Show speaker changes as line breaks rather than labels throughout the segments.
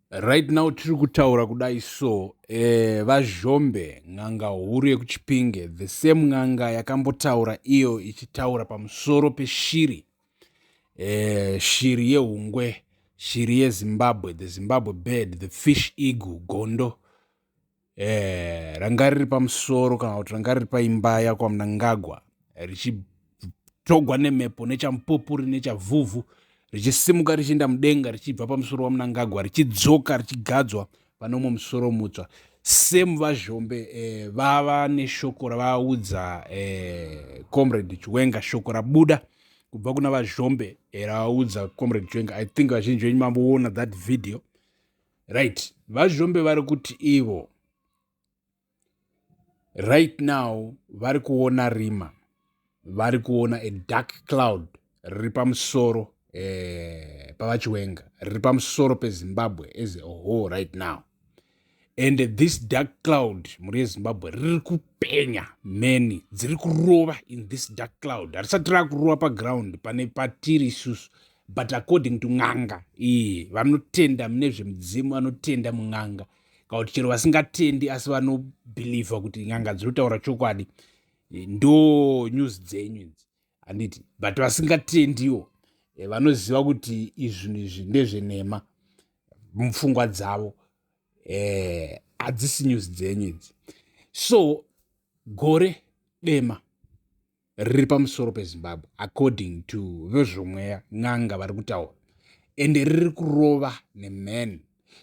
Right now tiri kutaura kudai so eh, vazhombe n'anga huru yekuchipinge the same n'anga yakambotaura iyo ichitaura pamusoro peshiri eh, shiri yehungwe shiri yezimbabwe the zimbabwe bird the fish eagle gondo eh, ranga riri pamusoro kana kuti ranga riri paimba yakwamunangagwa richitogwa nemhepo nechamupupuri nechavhuvhu richisimuka richienda mudenga richibva pamusoro wamunangagwa richidzoka richigadzwa pane umwe musoro mutsva semu vazhombe eh, vava neshoko ravaudza eh, comrade chiwenga shoko rabuda kubva kuna vazhombe eh, ravaudza comrade chiwenga i think vazhinji venyu mamboona that video right vazhirombe vari kuti ivo right now vari kuona rima vari kuona a dark cloud riri pamusoro eh, pavachiwenga riri pamusoro pezimbabwe as a whole right now and this dark cloud mhuri yezimbabwe riri kupenya many dziri kurova in this dark cloud harisati rava kurova paground pane patiri isusu but according to n'anga iyi vanotenda mune zvemudzimu vanotenda mun'anga kana kuti chero vasingatendi asi vanobhilivha kuti n'anga dziri kutaura chokwadi eh, ndo news dzenyu idzi handiti but vasingatendiwo eh, vanoziva kuti izvinhu izvi ndezvenhema mupfungwa dzavo eh, hadzisi news dzenyu idzi so gore dema riri pamusoro pezimbabwe according to vezvomweya n'anga vari kutaura ende riri kurova nemheni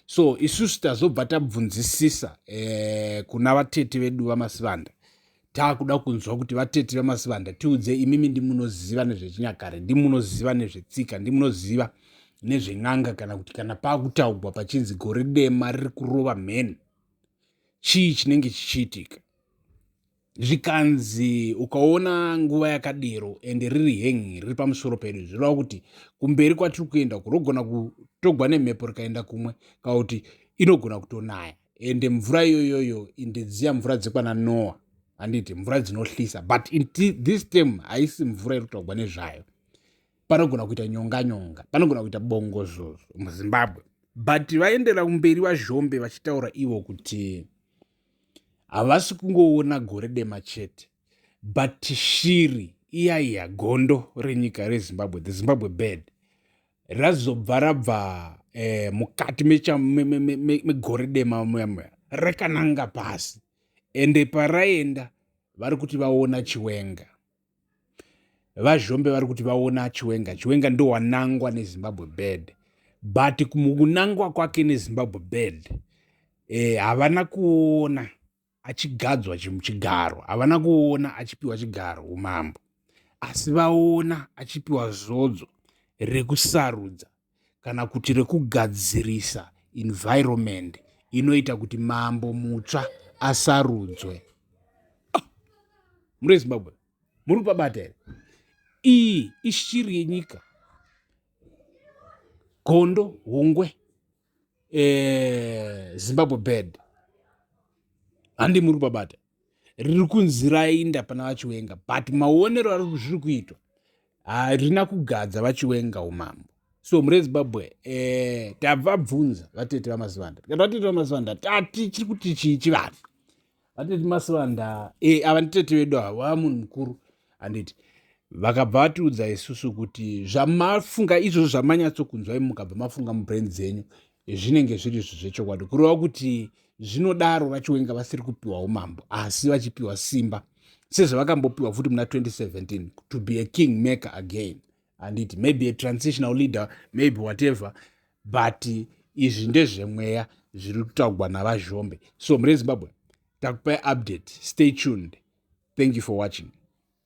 so isusu tazobva tabvunzisisa eh, kuna vatete vedu vamasivanda taakuda kunzwa kuti vatete vemasivanda tiudze imimi ndimunoziva nezvechinyakare ndimunoziva nezvetsika ndimunoziva nezven'anga kana kuti kana paakutaugwa pachinzi gore dema riri kurova mheni chii chinenge chichiitika zvikanzi ukaona nguva yakadero ende riri hengi riri pamusoro pedu zvireva kuti kumberi kwatiri kuenda kurogona kutogwa nemhepo rikaenda kumwe kana kuti inogona kutonaya ende mvura iyoyoyo indedziya mvura dzekwana noa handiti mvura dzinohlisa but this time haisi mvura iri kutogwa nezvayo panogona kuita nyonga nyonga panogona kuita bongozozo muzimbabwe but vaendera kumberi vazhombe vachitaura ivo kuti Havasi kungoona gore dema chete but shiri iya iya gondo renyika rezimbabwe the zimbabwe bird razobva rabva eh, mukati megore me, me, me, me, me dema muya muya rakananga pasi ende paraenda vari kuti vaona chiwenga vazhombe vari kuti vaona chiwenga chiwenga ndo wanangwa nezimbabwe bed but kunangwa kwake nezimbabwe bed eh, havana kuona achigadzwa chigaro havana kuona achipiwa chigaro umambo asi vaona achipiwa zodzo rekusarudza kana kuti rekugadzirisa environment inoita kuti mambo mutsva asarudzwe muri vezimbabwe muri pabata here iyi ishiri yenyika gondo hungwe eh, zimbabwe bed handi muri pabata riri kunzi rainda pana vachiwenga but maonero ari zviri kuitwa harina kugadza vachiwenga umambo so mure zimbabwe eh, tavabvunza vatete vamasivanda tikati vatete vamasivanda tati chiri kuti chii chivanhu vatete masivanda eh, ava nditete vedu ava vava munhu mukuru handiti vakabva vatiudza isusu kuti zvamafunga izvozvo zvamanyatsokunzwai mukabva mafunga mubrain dzenyu zvinenge zviri izvo zvechokwadi kureva kuti zvinodaro vachiwenga vasiri kupiwa umambo asi vachipiwa simba sezvavakambopiwa futi muna 2017 to be a king maker again handiti maybe a transitional leader maybe whatever but izvi ndezvemweya zviri kutaugwa navazhombe so mhuri yezimbabwe takupai update stay tuned thank you for watching